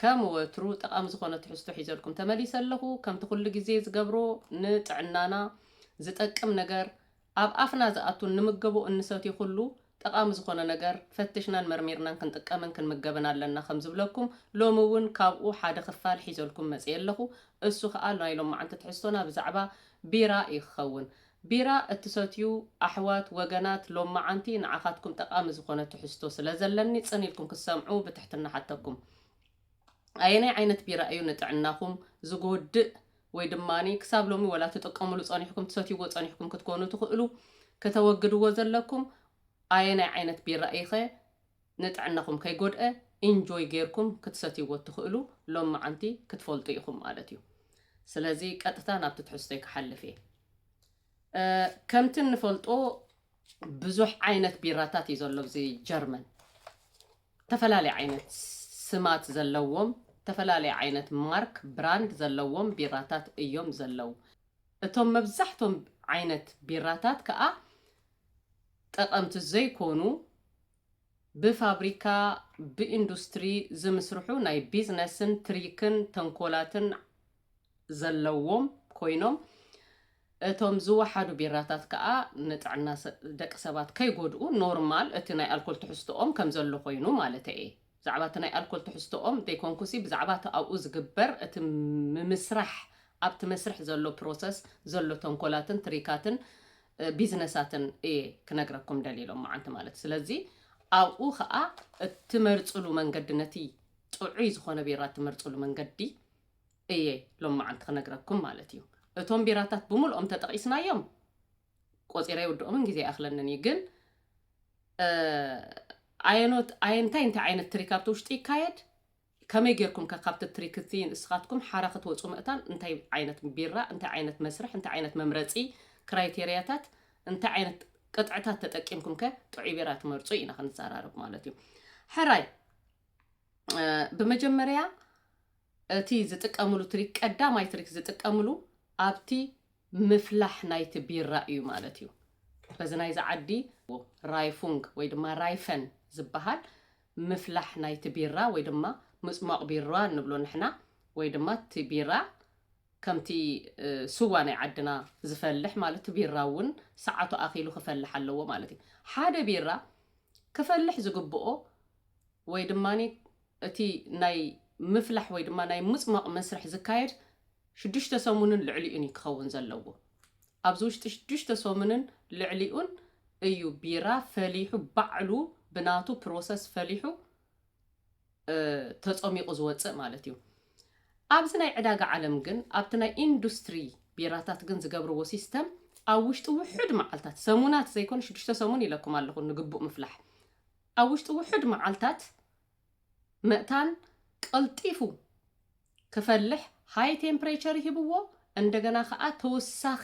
ከም ወትሩ ጠቓሚ ዝኾነ ትሕዝቶ ሒዘልኩም ተመሊሰ ኣለኹ። ከምቲ ኩሉ ግዜ ዝገብሮ ንጥዕናና ዝጠቅም ነገር ኣብ ኣፍና ዝኣቱን ንምገቦ እንሰትዮ ኩሉ ጠቓሚ ዝኾነ ነገር ፈትሽናን መርሚርናን ክንጥቀምን ክንምገብን ኣለና ከም ዝብለኩም ሎሚ እውን ካብኡ ሓደ ክፋል ሒዘልኩም መጺኤ ኣለኹ። እሱ ከኣ ናይ ሎምዓንቲ ትሕዝቶና ብዛዕባ ቢራ እዩ ክኸውን። ቢራ እትሰትዩ ኣሕዋት ወገናት ሎምመዓንቲ ንዓኻትኩም ጠቓሚ ዝኾነ ትሕዝቶ ስለ ዘለኒ ጽን ኢልኩም ክትሰምዑ ብትሕትና እሓተኩም። ኣየናይ ዓይነት ቢራ እዩ ንጥዕናኹም ዝጎድእ ወይ ድማ ክሳብ ሎሚ ወላ ትጥቀሙሉ ጸኒሕኩም ትሰትይዎ ጸኒሕኩም ክትኮኑ ትኽእሉ ከተወግድዎ ዘለኩም ኣየናይ ዓይነት ቢራ እዩኸ ንጥዕናኹም ከይጎድኣ ኢንጆይ ጌርኩም ክትሰትይዎ እትኽእሉ ሎምዓንቲ ክትፈልጡ ኢኹም ማለት እዩ። ስለዚ ቀጥታ ናብቲ ትሕዝቶይ ክሓልፍ እየ። ከምቲ እንፈልጦ ብዙሕ ዓይነት ቢራታት እዩ ዘሎ ኣብዚ ጀርመን ተፈላለየ ዓይነት ስማት ዘለዎም ተፈላለየ ዓይነት ማርክ ብራንድ ዘለዎም ቢራታት እዮም ዘለው። እቶም መብዛሕቶም ዓይነት ቢራታት ከዓ ጠቐምቲ ዘይኮኑ ብፋብሪካ ብኢንዱስትሪ ዝምስርሑ ናይ ቢዝነስን ትሪክን ተንኮላትን ዘለዎም ኮይኖም እቶም ዝወሓዱ ቢራታት ከኣ ንጥዕና ደቂ ሰባት ከይጎድኡ ኖርማል እቲ ናይ ኣልኮል ትሕዝትኦም ከምዘሎ ኮይኑ ማለተይ'የ። ብዛዕባ እቲ ናይ ኣልኮል ትሕዝቶኦም ዘይኮንኩሲ ብዛዕባ እቲ ኣብኡ ዝግበር እቲ ምምስራሕ ኣብቲ መስርሕ ዘሎ ፕሮሰስ ዘሎ ተንኮላትን ትሪካትን ቢዝነሳትን እየ ክነግረኩም ደልየ ሎምዓንቲ ማለት ስለዚ ኣብኡ ከዓ እትመርፅሉ መንገዲ ነቲ ጥዑይ ዝኾነ ቢራ እትመርፅሉ መንገዲ እየ ሎምዓንቲ ክነግረኩም ማለት እዩ እቶም ቢራታት ብምልኦም ተጠቂስናዮም ቆጺረ ይውድኦምን ግዜ ኣይኣኽለንን እዩ ግን ኣየኖት ኣየ እንታይ እንታይ ዓይነት ትሪክ ኣብቲ ውሽጢ ይካየድ ከመይ ጌርኩም ከ ካብቲ ትሪክ እቲ ንስኻትኩም ሓራ ክትወፁ ምእታን እንታይ ዓይነት ቢራ እንታይ ዓይነት መስርሕ እንታይ ዓይነት መምረፂ ክራይቴርያታት እንታይ ዓይነት ቅጥዕታት ተጠቂምኩም ከ ጥዑይ ቢራ ትመርፁ ኢና ክንዘራረብ ማለት እዩ ሕራይ ብመጀመርያ እቲ ዝጥቀምሉ ትሪክ ቀዳማይ ትሪክ ዝጥቀምሉ ኣብቲ ምፍላሕ ናይቲ ቢራ እዩ ማለት እዩ። በዚ ናይዚ ዓዲ ራይፉንግ ወይ ድማ ራይፈን ዝበሃል ምፍላሕ ናይቲ ቢራ ወይ ድማ ምጽሟቕ ቢራ ንብሎ ንሕና ወይ ድማ እቲ ቢራ ከምቲ ስዋ ናይ ዓድና ዝፈልሕ ማለት ቢራ እውን ሰዓቱ ኣኺሉ ክፈልሕ ኣለዎ ማለት እዩ። ሓደ ቢራ ክፈልሕ ዝግብኦ ወይ ድማ እቲ ናይ ምፍላሕ ወይ ድማ ናይ ምጽሟቕ መስርሕ ዝካየድ ሽዱሽተ ሰሙንን ልዕሊኡን እዩ ክኸውን ዘለዎ። ኣብዚ ውሽጢ ሽዱሽተ ሰሙንን ልዕሊኡን እዩ ቢራ ፈሊሑ ባዕሉ ብናቱ ፕሮሰስ ፈሊሑ ተጸሚቑ ዝወጽእ ማለት እዩ። ኣብዚ ናይ ዕዳጋ ዓለም ግን ኣብቲ ናይ ኢንዱስትሪ ቢራታት ግን ዝገብርዎ ሲስተም ኣብ ውሽጢ ውሑድ መዓልታት ሰሙናት ዘይኮነ ሽዱሽተ ሰሙን ኢለኩም ኣለኹ ንግቡእ ምፍላሕ ኣብ ውሽጢ ውሑድ መዓልታት መእታን ቀልጢፉ ክፈልሕ ሃይ ቴምፕሬቸር ይህብዎ እንደገና ከኣ ተወሳኺ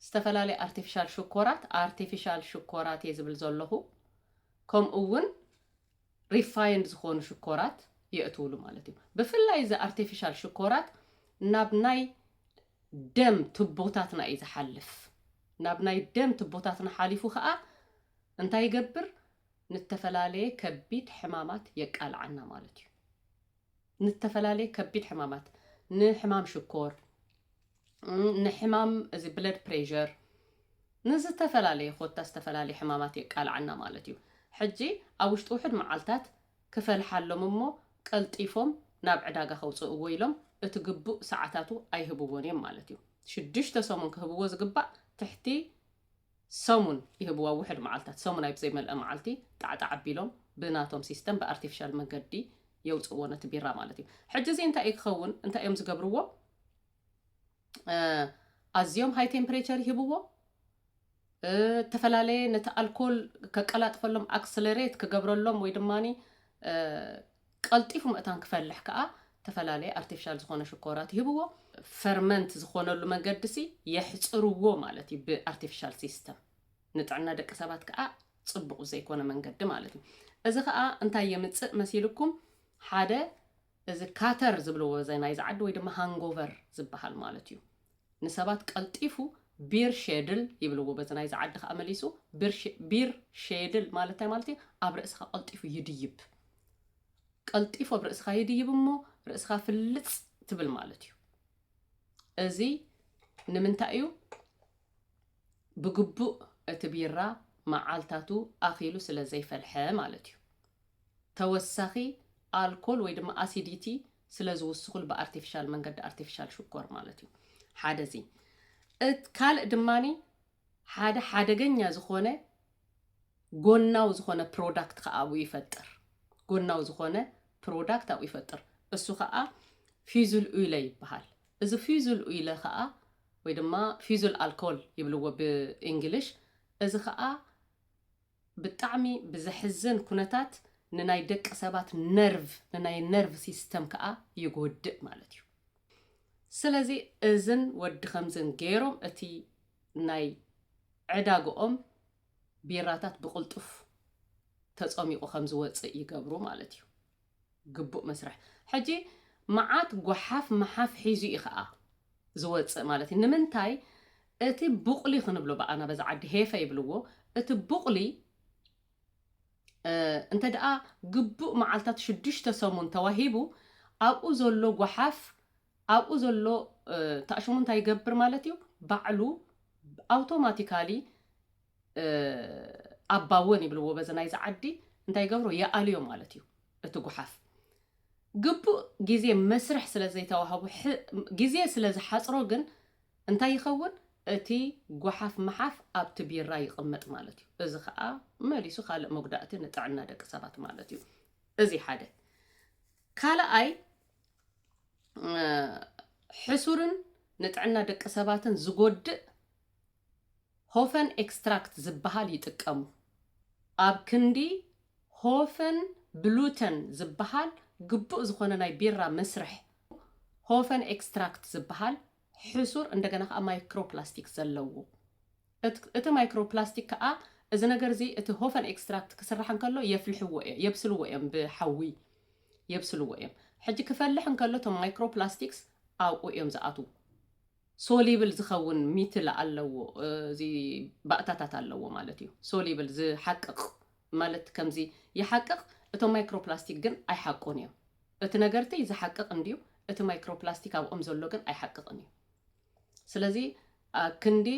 ዝተፈላለየ ኣርቲፊሻል ሽኮራት ኣርቲፊሻል ሽኮራት እየ ዝብል ዘለኹ ከምኡ እውን ሪፋይንድ ዝኾኑ ሽኮራት የእትውሉ ማለት እዩ ብፍላይ እዚ ኣርቲፊሻል ሽኮራት ናብ ናይ ደም ትቦታትና እዩ ዝሓልፍ ናብ ናይ ደም ትቦታትና ሓሊፉ ከዓ እንታይ ይገብር ንተፈላለየ ከቢድ ሕማማት የቃልዓና ማለት እዩ ንዝተፈላለየ ከቢድ ሕማማት፣ ንሕማም ሽኮር፣ ንሕማም እዚ ብለድ ፕሬዠር፣ ንዝተፈላለየ ኮታ ዝተፈላለየ ሕማማት የቃልዓና ማለት እዩ። ሕጂ ኣብ ውሽጢ ውሑድ መዓልታት ክፈልሓሎም እሞ ቀልጢፎም ናብ ዕዳጋ ከውጽእዎ ኢሎም እቲ ግቡእ ሰዓታቱ ኣይህብዎን እዮም ማለት እዩ። ሽዱሽተ ሰሙን ክህብዎ ዝግባእ ትሕቲ ሰሙን ይህብዋ ውሕድ መዓልታት ሰሙን ኣይ ብዘይ መልኣ መዓልቲ ጣዕጣዕ ኣቢሎም ብናቶም ሲስተም ብኣርቲፍሻል መንገዲ የውጽእዎ ነቲ ቢራ ማለት እዩ ሕጂ እዚ እንታይ እዩ ክኸውን እንታይ እዮም ዝገብርዎ ኣዝዮም ሃይ ቴምፕሬቸር ይህብዎ እተፈላለየ ነቲ ኣልኮል ከቀላጥፈሎም ኣክስለሬት ክገብረሎም ወይ ድማኒ ቀልጢፉ መእታን ክፈልሕ ከኣ እተፈላለየ ኣርቲፊሻል ዝኾነ ሽኮራት ይህብዎ። ፈርመንት ዝኾነሉ መንገዲሲ የሕጽርዎ ማለት እዩ ብኣርቲፊሻል ሲስተም። ንጥዕና ደቂ ሰባት ከኣ ጽቡቕ ብዘይኮነ መንገዲ ማለት እዩ። እዚ ከኣ እንታይ የምጽእ መሲልኩም ሓደ እዚ ካተር ዝብልዎ እዚ ናይዚ ዓዲ ወይ ድማ ሃንጎቨር ዝበሃል ማለት እዩ። ንሰባት ቀልጢፉ ቢር ሼድል ይብልዎ በዚ ናይዚ ዓዲ ከኣ መሊሱ ቢር ቢር ሼድል ማለት እንታይ ማለት እዩ ኣብ ርእስኻ ቀልጢፉ ይድይብ። ቀልጢፉ ኣብ ርእስኻ ይድይብ እሞ ርእስኻ ፍልጽ ትብል ማለት እዩ እዚ ንምንታይ እዩ ብግቡእ እቲ ቢራ መዓልታቱ ኣኺሉ ስለ ዘይፈልሐ ማለት እዩ ተወሳኺ ኣልኮል ወይ ድማ ኣሲዲቲ ስለ ዝውስኹል ብኣርቲፊሻል መንገዲ ኣርቲፊሻል ሽኮር ማለት እዩ ሓደ እዚ ካልእ ድማኒ ሓደ ሓደገኛ ዝኾነ ጎናዊ ዝኾነ ፕሮዳክት ከኣ ኣብኡ ይፈጥር። ጎናዊ ዝኾነ ፕሮዳክት ኣብኡ ይፈጥር። እሱ ከኣ ፊዙል ኡይለ ይበሃል። እዚ ፊዙል ኡይለ ከኣ ወይ ድማ ፊዙል ኣልኮል ይብልዎ ብእንግሊሽ እዚ ከኣ ብጣዕሚ ብዘሕዝን ኩነታት ንናይ ደቂ ሰባት ነርቭ ንናይ ነርቭ ሲስተም ከኣ ይጎድእ ማለት እዩ ስለዚ እዝን ወዲ ከምዝን ገይሮም እቲ ናይ ዕዳግኦም ቢራታት ብቅልጡፍ ተጸሚቁ ከምዝወጽእ ይገብሩ ማለት እዩ ግቡእ መስርሕ ሕጂ መዓት ጓሓፍ ምሓፍ ሒዙ እዩ ከኣ ዝወጽእ ማለት እዩ ንምንታይ እቲ ቡቕሊ ክንብሎ ብኣና በዚ ዓዲ ሄፈ ይብልዎ እቲ ቡቕሊ እንተ ደኣ ግቡእ መዓልታት ሽዱሽተ ሰሙን ተዋሂቡ ኣብኡ ዘሎ ጓሓፍ ኣብኡ ዘሎ ታእሽሙ እንታይ ይገብር ማለት እዩ ባዕሉ ኣውቶማቲካሊ ኣባወን ይብልዎ በዚ ናይዚ ዓዲ እንታይ ይገብሮ ይኣልዮ ማለት እዩ እቲ ጉሓፍ ግቡእ ግዜ መስርሕ ስለ ዘይተዋህቡ ግዜ ስለ ዝሓፅሮ ግን እንታይ ይኸውን እቲ ጓሓፍ መሓፍ ኣብቲ ቢራ ይቕመጥ ማለት እዩ እዚ ከዓ መሊሱ ካልእ መጉዳእቲ ንጥዕና ደቂ ሰባት ማለት እዩ እዚ ሓደ ካልኣይ ሕሱርን ንጥዕና ደቂ ሰባትን ዝጎድእ ሆፈን ኤክስትራክት ዝበሃል ይጥቀሙ። ኣብ ክንዲ ሆፈን ብሉተን ዝበሃል ግቡእ ዝኾነ ናይ ቢራ መስርሕ፣ ሆፈን ኤክስትራክት ዝበሃል ሕሱር እንደገና ከኣ ማይክሮፕላስቲክ ዘለዎ። እቲ ማይክሮፕላስቲክ ከኣ እዚ ነገር እዚ እቲ ሆፈን ኤክስትራክት ክስራሕ እንከሎ የፍልሕዎ እዮም፣ የብስልዎ እዮም፣ ብሓዊ የብስልዎ እዮም። ሕጂ ክፈልሕ እንከሎ እቶም ማይክሮፕላስቲክስ ኣብኡ እዮም ዝኣትዉ። ሶሊብል ዝኸውን ሚትል ኣለዎ እዚ ባእታታት ኣለዎ ማለት እዩ ሶሊብል ዝሓቅቕ ማለት ከምዚ ይሓቅቕ እቶም ማይክሮፕላስቲክ ግን ኣይሓቁን እዮም እቲ ነገርቲ ዝሓቅቕ እንድዩ እቲ ማይክሮፕላስቲክ ኣብኦም ዘሎ ግን ኣይሓቅቕን እዩ ስለዚ ክንዲ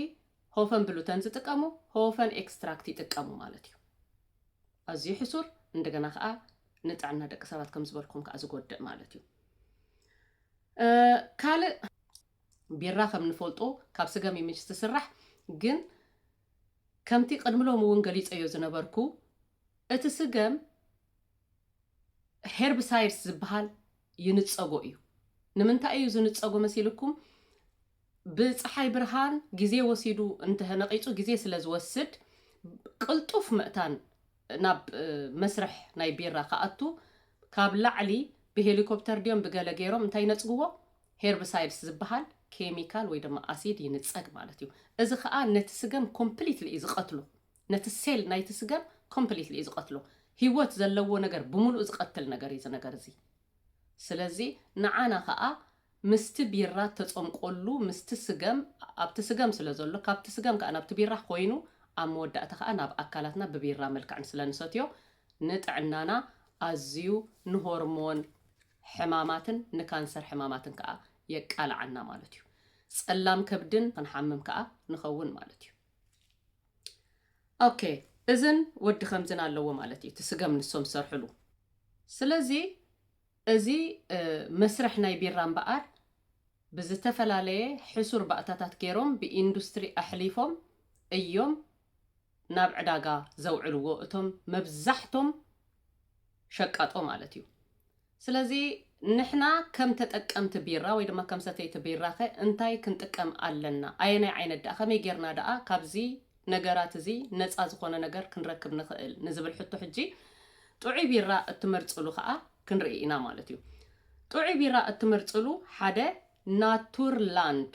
ሆፈን ብሉተን ዝጥቀሙ ሆፈን ኤክስትራክት ይጥቀሙ ማለት እዩ ኣዝዩ ሕሱር እንደገና ከዓ ንጥዕና ደቂ ሰባት ከም ዝበልኩም ከዓ ዝጎድእ ማለት እዩ ካልእ ቢራ ከም ንፈልጦ ካብ ስገም እዩ ምችስ ትስራሕ ግን ከምቲ ቅድሚ ሎሚ እውን ገሊፀዮ ዝነበርኩ እቲ ስገም ሄርብሳይድስ ዝበሃል ይንፀጎ እዩ። ንምንታይ እዩ ዝንፀጎ መሲልኩም? ብፀሓይ ብርሃን ግዜ ወሲዱ እንተነቂፁ ግዜ ስለ ዝወስድ ቅልጡፍ መእታን ናብ መስርሕ ናይ ቢራ ክኣቱ ካብ ላዕሊ ብሄሊኮፕተር ድዮም ብገለ ገይሮም እንታይ ነፅግዎ ሄርብሳይድስ ዝብሃል ኬሚካል ወይ ድማ ኣሲድ ይንጸግ ማለት እዩ። እዚ ከኣ ነቲ ስገም ኮምፕሊትሊ እዩ ዝቐትሎ። ነቲ ሴል ናይቲ ስገም ኮምፕሊትሊ እዩ ዝቐትሎ። ሂወት ዘለዎ ነገር ብምሉኡ ዝቐትል ነገር እዩ እዚ ነገር እዚ። ስለዚ ንዓና ከኣ ምስቲ ቢራ እተጸምቆሉ ምስቲ ስገም ኣብቲ ስገም ስለ ዘሎ ካብቲ ስገም ከኣ ናብቲ ቢራ ኮይኑ ኣብ መወዳእታ ከኣ ናብ ኣካላትና ብቢራ መልክዕን ስለ ንሰትዮ ንጥዕናና ኣዝዩ ንሆርሞን ሕማማትን ንካንሰር ሕማማትን ከኣ የቃልዓና ማለት እዩ። ጸላም ከብድን ክንሓምም ከኣ ንኸውን ማለት እዩ። ኦኬ እዝን ወዲ ከምዝን ኣለዎ ማለት እዩ እቲ ስገም ንሶም ዝሰርሕሉ። ስለዚ እዚ መስርሕ ናይ ቢራ እምበኣር ብዝተፈላለየ ሕሱር ባእታታት ገይሮም ብኢንዱስትሪ ኣሕሊፎም እዮም ናብ ዕዳጋ ዘውዕልዎ እቶም መብዛሕቶም ሸቃጦ ማለት እዩ። ስለዚ ንሕና ከም ተጠቀምቲ ቢራ ወይ ድማ ከም ሰተይቲ ቢራኸ እንታይ ክንጥቀም ኣለና? ኣየናይ ዓይነት ደኣ? ከመይ ጌርና ደኣ ካብዚ ነገራት እዚ ነጻ ዝኾነ ነገር ክንረክብ ንኽእል? ንዝብል ሕቶ ሕጂ ጥዑይ ቢራ እትመርጽሉ ከኣ ክንርኢ ኢና ማለት እዩ። ጥዑይ ቢራ እትመርጽሉ ሓደ ናቱር ላንድ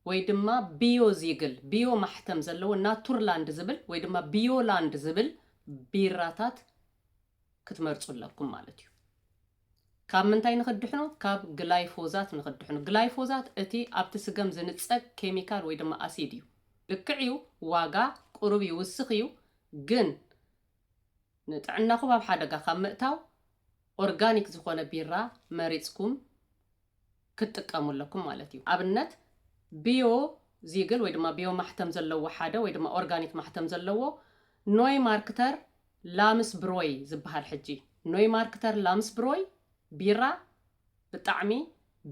ወይ ድማ ቢዮዚግል፣ ቢዮ ማሕተም ዘለዎ፣ ናቱርላንድ ዝብል ወይ ድማ ቢዮላንድ ዝብል ቢራታት ክትመርጹ ኣለኩም ማለት እዩ። ካብ ምንታይ ንኽድሕኑ? ካብ ግላይፎዛት ንኽድሕኑ። ግላይፎዛት እቲ ኣብቲ ስገም ዝንጸግ ኬሚካል ወይ ድማ ኣሲድ እዩ። ልክዕ እዩ ዋጋ ቁሩብ ይውስኽ እዩ ግን ንጥዕናኹም ኣብ ሓደጋ ካብ ምእታው ኦርጋኒክ ዝኾነ ቢራ መሪጽኩም ክትጥቀሙ ኣለኩም ማለት እዩ። ኣብነት ቢዮ ዚግል ወይ ድማ ቢዮ ማሕተም ዘለዎ ሓደ ወይ ድማ ኦርጋኒክ ማሕተም ዘለዎ ኖይ ማርክተር ላምስ ብሮይ ዝበሃል ሕጂ ኖይ ማርክተር ላምስ ብሮይ ቢራ ብጣዕሚ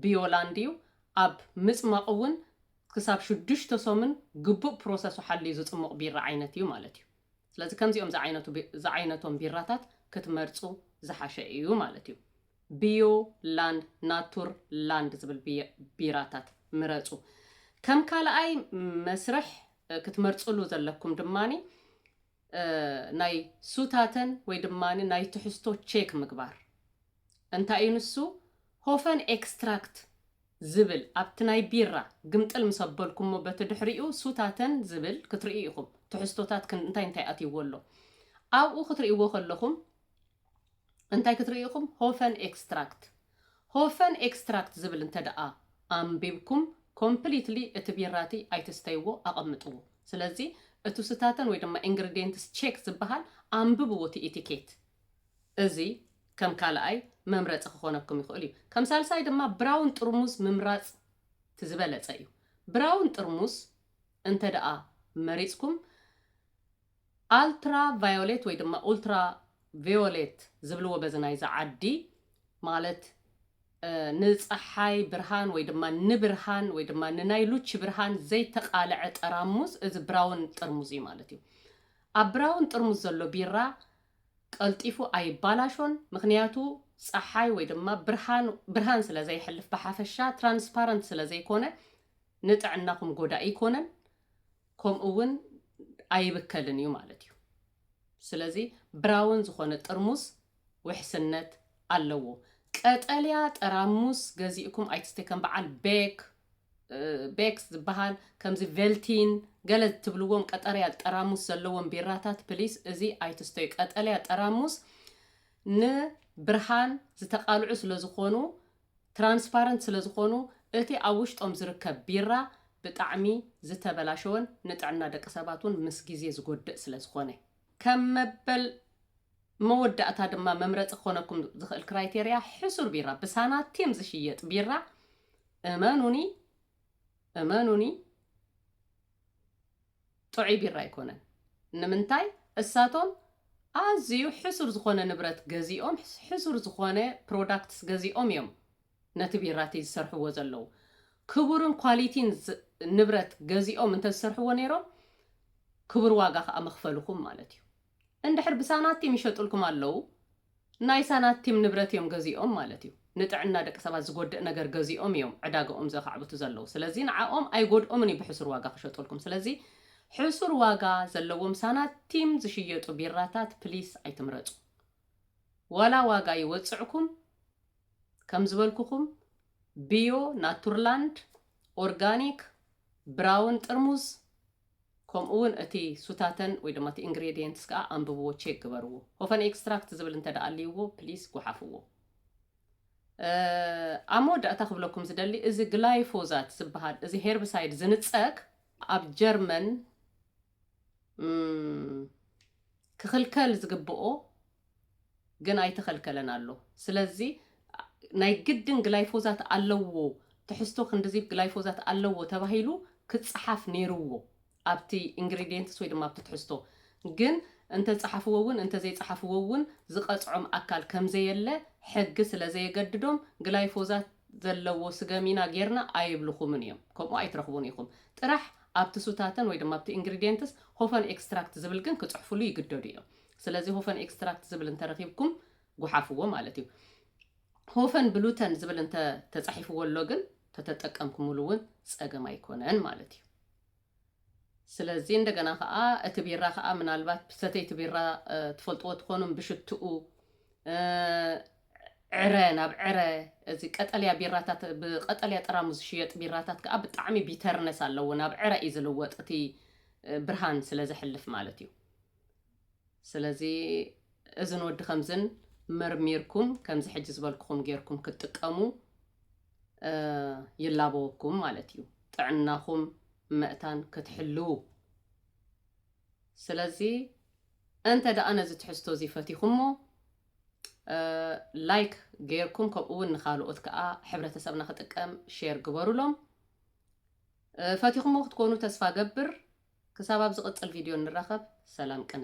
ቢዮ ላንድ እዩ ኣብ ምጽማቁ እውን ክሳብ ሽዱሽተ ሶምን ግቡእ ፕሮሰሱ ሓልዩ ዝጽሙቅ ቢራ ዓይነት እዩ ማለት እዩ። ስለዚ ከምዚኦም ዝዓይነቱ ዝዓይነቶም ቢራታት ክትመርጹ ዝሓሸ እዩ ማለት እዩ። ቢዮ ላንድ ናቱር ላንድ ዝብል ቢራታት ምረጹ። ከም ካልኣይ መስርሕ ክትመርጽሉ ዘለኩም ድማ ናይ ሱታተን ወይ ድማ ናይ ትሕዝቶ ቼክ ምግባር። እንታይ እዩ ንሱ ሆፈን ኤክስትራክት ዝብል ኣብቲ ናይ ቢራ ግምጥል ምስ ኣበልኩሞ በቲ ድሕሪኡ ሱታተን ዝብል ክትርእዩ ኢኹም ትሕዝቶታት እንታይ እንታይ ኣትይዎ ኣሎ ኣብኡ ክትርእይዎ ከለኹም እንታይ ክትርእዩ ኢኹም ሆፈን ኤክስትራክት ሆፈን ኤክስትራክት ዝብል እንተ ደኣ ኣንቢብኩም ኮምፕሊትሊ እቲ ቢራቲ ኣይትስተይዎ ኣቐምጥዎ ስለዚ እቱ ስታተን ወይ ድማ ኢንግሪዴንትስ ቼክ ዝበሃል ኣንብብዎ እቲ ኢቲኬት እዚ ከም ካልኣይ መምረፂ ክኾነኩም ይኽእል እዩ ከም ሳልሳይ ድማ ብራውን ጥርሙዝ ምምራፅ እቲ ዝበለፀ እዩ ብራውን ጥርሙዝ እንተ ደኣ መሪፅኩም ኣልትራ ቫዮሌት ወይ ድማ ኡልትራ ቬዮሌት ዝብልዎ በዚ ናይዚ ዓዲ ማለት ንጸሓይ ብርሃን ወይ ድማ ንብርሃን ወይ ድማ ንናይ ሉቺ ብርሃን ዘይተቃለዐ ጠራሙዝ እዚ ብራውን ጥርሙዝ እዩ ማለት እዩ። ኣብ ብራውን ጥርሙዝ ዘሎ ቢራ ቀልጢፉ ኣይባላሾን ምኽንያቱ ጸሓይ ወይ ድማ ብርሃን ብርሃን ስለ ዘየሕልፍ ብሓፈሻ ትራንስፓረንት ስለ ዘይኮነ ንጥዕናኹም ጎዳኢ ኣይኮነን። ከምኡ ውን ኣይብከልን እዩ ማለት እዩ። ስለዚ ብራውን ዝኾነ ጥርሙስ ውሕስነት ኣለዎ። ቀጠልያ ጠራሙስ ገዚእኩም ኣይትስቴ ከም በዓል ቤክ ቤክስ ዝበሃል ከምዚ ቬልቲን ገለ ትብልዎም ቀጠርያ ጠራሙስ ዘለዎም ቢራታት ፕሊስ እዚ ኣይትስተዩ። ቀጠልያ ጠራሙስ ንብርሃን ዝተቃልዑ ስለዝኾኑ ትራንስፓረንት ስለ ዝኾኑ እቲ ኣብ ውሽጦም ዝርከብ ቢራ ብጣዕሚ ዝተበላሸወን ንጥዕና ደቂ ሰባት ውን ምስ ግዜ ዝጎድእ ስለ ዝኾነ። ከም መበል መወዳእታ ድማ መምረጺ ክኾነኩም ዝኽእል ክራይቴርያ ሕሱር ቢራ ብሳናቲም ዝሽየጥ ቢራ እመኑኒ እመኑኒ ጥዑይ ቢራ ኣይኮነን ንምንታይ እሳቶም ኣዝዩ ሕሱር ዝኾነ ንብረት ገዚኦም ሕሱር ዝኾነ ፕሮዳክትስ ገዚኦም እዮም ነቲ ቢራቲ ዝሰርሕዎ ዘለዉ ክቡርን ኳሊቲን ንብረት ገዚኦም እንተዝሰርሕዎ ነይሮም ክቡር ዋጋ ከኣ መኽፈልኹም ማለት እዩ። እንድሕር ብሳናቲም ይሸጡልኩም ኣለው ናይ ሳናቲም ንብረት እዮም ገዚኦም ማለት እዩ ንጥዕና ደቂ ሰባት ዝጎድእ ነገር ገዚኦም እዮም ዕዳገኦም ዘኻዕብቱ ዘለው ስለዚ ንዓኦም ኣይጎድኦምን እዩ ብሕሱር ዋጋ ክሸጡልኩም ስለዚ ሕሱር ዋጋ ዘለዎም ሳናቲም ዝሽየጡ ቢራታት ፕሊስ ኣይትምረፁ ዋላ ዋጋ ይወፅዕኩም ከም ዝበልኩኹም ብዮ ናቱርላንድ ኦርጋኒክ ብራውን ጥርሙዝ ከምኡ ውን እቲ ሱታተን ወይ ድማ እቲ ኢንግሬዲየንትስ ከኣ ኣንብብዎ ቼክ ግበርዎ ሆፈን ኤክስትራክት ዝብል እንተ ኣልይዎ ፕሊስ ጉሓፍዎ። ኣብ መወዳእታ ክብለኩም ዝደሊ እዚ ግላይፎዛት ዝበሃል እዚ ሄርብሳይድ ዝንጸግ ኣብ ጀርመን ክኽልከል ዝግብኦ ግን ኣይተኸልከለን ኣሎ ስለዚ ናይ ግድን ግላይፎዛት ኣለዎ ትሕዝቶ ክንድዚ ግላይፎዛት ኣለዎ ተባሂሉ ክጸሓፍ ኔርዎ ኣብቲ ኢንግሪድየንትስ ወይ ድማ ኣብቲ ትሕዝቶ ግን እንተጸሓፍዎ እውን እንተዘይጸሓፍዎ እውን ዝቐጽዖም ኣካል ከምዘየለ ሕጊ ስለዘየገድዶም ግላይፎዛት ዘለዎ ስገም ኢና ጌርና ኣይብልኹምን እዮም ከምኡ ኣይትረኽቡን ኢኹም ጥራሕ ኣብቲ ሱታተን ወይ ድማ ኣብቲ ኢንግሪድየንትስ ሆፈን ኤክስትራክት ዝብል ግን ክጽሕፍሉ ይግደዱ እዮም ስለዚ ሆፈን ኤክስትራክት ዝብል እንተ ረኺብኩም ጉሓፍዎ ማለት እዩ። ሆፈን ብሉተን ዝብል እንተ ተጻሒፍዎ ኣሎ ግን ተተጠቀምኩምሉ እውን ጸገም ኣይኮነን ማለት እዩ። ስለዚ እንደገና ከዓ እቲ ቢራ ከዓ ምናልባት ሰተይቲ ቢራ ትፈልጥዎ ትኾኑ ብሽትኡ ዕረ ናብ ዕረ እዚ ቀጠልያ ቢራታት ብቀጠልያ ጠራሙ ዝሽየጥ ቢራታት ከዓ ብጣዕሚ ቢተርነስ ኣለዎ ናብ ዕረ እዩ ዝልወጥ እቲ ብርሃን ስለ ዘሕልፍ ማለት እዩ ስለዚ እዝን ወዲ ከምዝን መርሚርኩም ከምዚ ሕጂ ዝበልክኹም ጌርኩም ክትጥቀሙ ይላበወኩም ማለት እዩ ጥዕናኹም መእታን ክትሕልው ስለዚ እንተ ደኣ ነዚ ትሕዝቶ እዚ ፈቲኹሞ ላይክ ጌርኩም ከምኡ እውን ንካልኦት ከዓ ሕብረተሰብና ክጥቀም ሼር ግበሩሎም ፈቲኹሞ ክትኮኑ ተስፋ ገብር ክሳብ ኣብ ዝቅጽል ቪድዮ ንራኸብ ሰላም ቅነ።